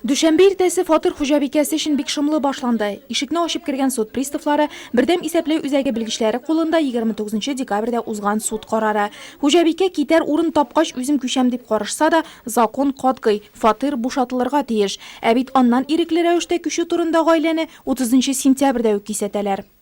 Дүшәмбе иртәсе фатир хуҗабикәсе өчен бик шомлы башланды. Ишекне ачып кергән суд приставлары, бердәм исәпләү үзәге белгечләре кулында 29 декабрьдә узган суд карары. Хуҗабикә китәр урын тапкач үзем күчәм дип карышса да, закон катгый, фатир бушатылырга тиеш. Ә бит аннан ирекле рәвештә күчү турында гаиләне 30 сентябрьдә үк кисәтәләр.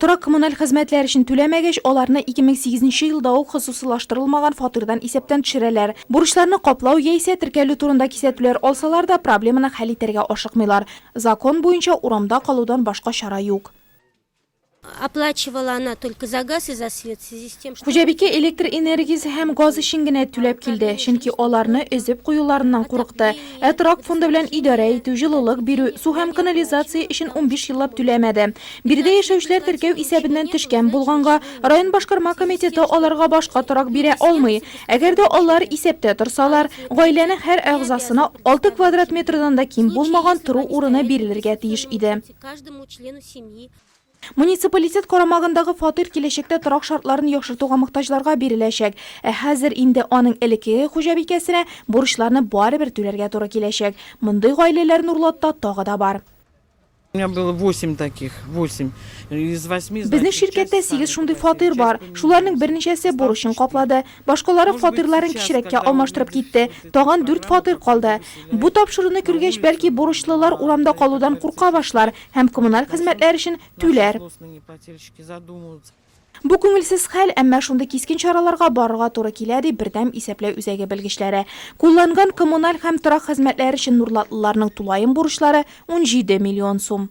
Торак-коммуналь хезмәтләр өчен түләмәгәч, аларны 2008 нче елда ук хосусылаштырылмаган фатирдан исәптән төшерәләр. Бурычларны каплау яисә теркәлү турында кисәтүләр алсалар да, проблеманы хәл итәргә ашыкмыйлар. Закон буенча урамда калудан башка чара юк. Оплачивала она только за газ и за свет в связи с тем, что. Хуҗабикә электр энергиясе һәм газ өчен генә түләп килде, чөнки аларны өзеп куюларыннан курыкты. Ә торак фонды белән идарә итү, җылылык бирү, су һәм канализация өчен 15 еллап түләмәде. Биредә яшәүчеләр теркәү исәбеннән төшкән булганга, район башкарма комитеты аларга башка торак бирә алмый. Әгәр дә алар исәптә торсалар, гаиләнең һәр әгъзасына 6 квадрат метрдан да ким булмаган тору урыны бирелергә тиеш иде. Муниципалитет карамагындагы фатир киләчәктә торак шартларын яхшыртуга мохтаҗларга биреләчәк. Ә хәзер инде аның элеккеге хуҗабикәсенә бурычларны барыбер түләргә туры киләчәк. Мондый гаиләләр Нурлатта тагы да бар. У меня было восемь таких, восемь. Из восьми, значит, Безнең ширкәттә сигез шундый фатир бар. Шуларның берничәсе бурычын каплады. Башкалары фатирларын кечерәккә алмаштырып китте. Тагын дүрт фатир калды. Бу тапшыруны күргәч, бәлки, бурычлылар урамда калудан курка башлар. һәм коммуналь хезмәтләр өчен түләр. Бу күңелсез хәл, әмма шундый кискен чараларга барырга туры килә, ди Бердәм исәпләү үзәге белгечләре. Кулланган коммуналь һәм торак хезмәтләре өчен нурлатлыларның тулаем бурычлары, унҗиде миллион сум.